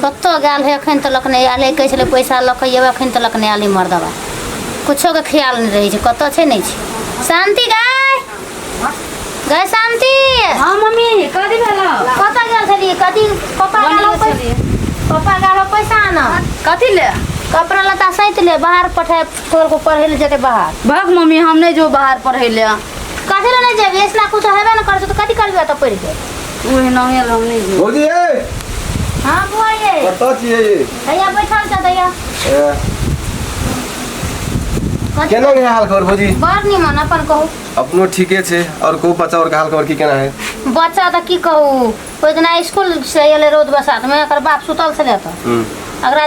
कतऽ गेल है एखन तलक नहि आयल है कहै छलै पैसा लऽ कऽ एबै एखन तलक नहि आयल है मर्दवा कुछोके ख्याल नहि रहै छै कतऽ छै नहि छै शान्ति गाय गाय शान्ति हाँ मम्मी कथी भेल कतऽ गेल छलियै कथी पप्पा गेल बनबै पै- छलियै। पप्पा गेल पैसा आना कथी ले कपड़ा लत्ता सैत ले बाहर पठाए तोर को पढ़ै लए जेतै बाहर भक मम्मी हम नहि जो बाहर पढ़ै ले कथी लए नहि जेबै ऐसना कुछो हेबे ने करै छै तऽ कथी करबै तऽ पढ़ि कऽ तू ही नामे लम नहीं जो भौजी ए हाँ बुआ ये कतऽ छियै ये भैया बैठल छ दैया ए, कथी केना है हाल खबर भौजी बड़ निमन अपन कहू अपनो ठीके छै और को बच्चा और हाल खबर की केना है बच्चा तऽ की कहू ओहि दिना स्कूल से अयलै रौद बसातमे एकर बाप सुतल छलै तऽ हम्म। अगरा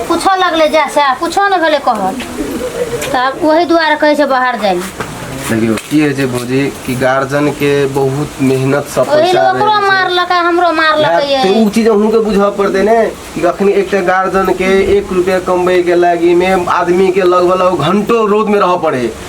किछो लगलै जाए सएह किछो नहि भेलै कहल तऽ आब ओही दुआरे कहै छै बाहर जाइ लए देखियौ की होइ छै भौजी कि गार्जियन के बहुत मेहनत सब ओही पैसा लए ओकरो रहै छै। मारलकै हमरो मारलकै तऽ ओ चीज अहूँके बुझऽ पड़तै ने कि अखन एकटा गार्जियन के एक रुपया कमबै के लागी मे आदमी के लगभग लगभग घंटो रौद में रहऽ पड़े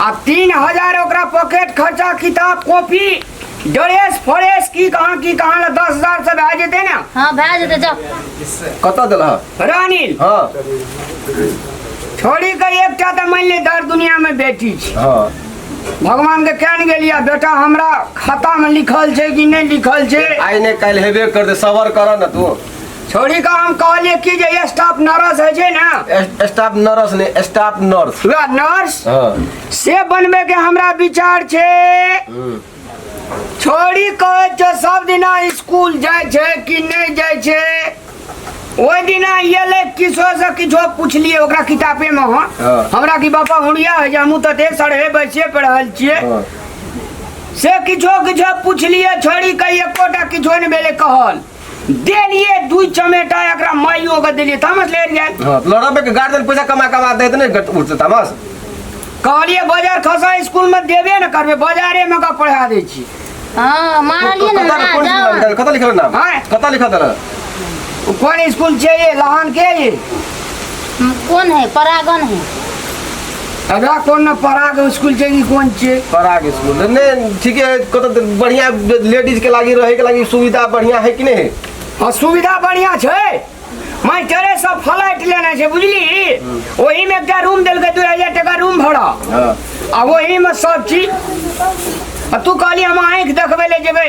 आ तीन हजार ओकरा पॉकेट खर्चा किताब कॉपी ड्रेस फ्रेस की कहाँ की कहाँ ला दस हजार से भए जेतै ने हाँ भए जेतै जाओ कतऽ देलह रानील हाँ छोड़ी के एकटा तऽ मानि ले दर दुनिया में बेटी छै हाँ भगवान के कहने गेलिया बेटा हमरा खाता में लिखल छै कि नहीं लिखल छै आइ नहि काल्हि हेबे करतै सबर करऽ ने तू छोड़ी का हम कहलिए कि जे स्टाफ नर्स है जे ना एस- स्टाफ नर्स ने स्टाफ नर्स वह नर्स हाँ से बनबे के हमरा विचार छे हम्म। छोड़ी कहे छे सब दिना स्कूल जाए छे कि नहीं जाए छे ओइ दिना ये ले किसो से किछो पूछलिए ओकरा किताबे में हो हाँ। हमरा की बापा हुड़िया है जे हमू तो दे सड़े बैसे पढ़ल छिए हाँ। से किछो किछो पूछलिए छोड़ी कहिए कोटा किछो ने भेले कहल देलिए दुई चमेटा एकरा माइयो के देलिए थमस ले जाए हाँ, लड़बे के गार्जियन पैसा कमा कमा दे इतने गट उठ से तमस कहलिए बाजार खसा स्कूल में देबे न करबे बाजारे में का पढ़ा दे छी हाँ मार लिए ना कता ना कौन जाओ लिखल कता लिखल नाम हाँ। कता लिखल दर उ कौन स्कूल चाहिए लहान के ये कौन है परागन है अदा कौन ना पराग स्कूल चेगी कौन चे पराग स्कूल ने ठीक है कत बढ़िया लेडीज के लागी रहे के लागी सुविधा बढ़िया है कि नहीं हाँ सुविधा बढ़िया छे मैं तेरे सब फ्लैट लेना छे बुझली वही में क्या रूम दिल के दो हजार टका रूम भाड़ा हाँ। आ वही में सब चीज आ तू कहली हम आँख देखबे ले जेबे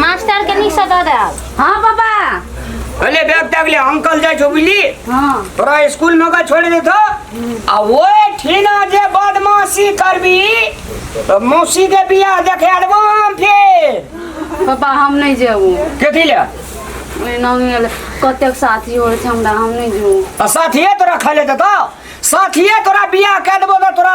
मास्टर के नीचा दऽ देब हँ पापा अरे बैग तक ले अंकल जाए छो बुझली हँ तोरा स्कूल में का छोड़ देतो आ वो ठीना जे बदमाशी करबी तो मौसी के बियाह देखे आदबो हम फिर पापा हम नहीं जेबू कथी ले ओहि नानी गेल कतेक साथी होइ छै हमरा हम नहि जेबू तो साथिये तोरा खा ले देतो साथिये तोरा बियाह कह देबो तो तोरा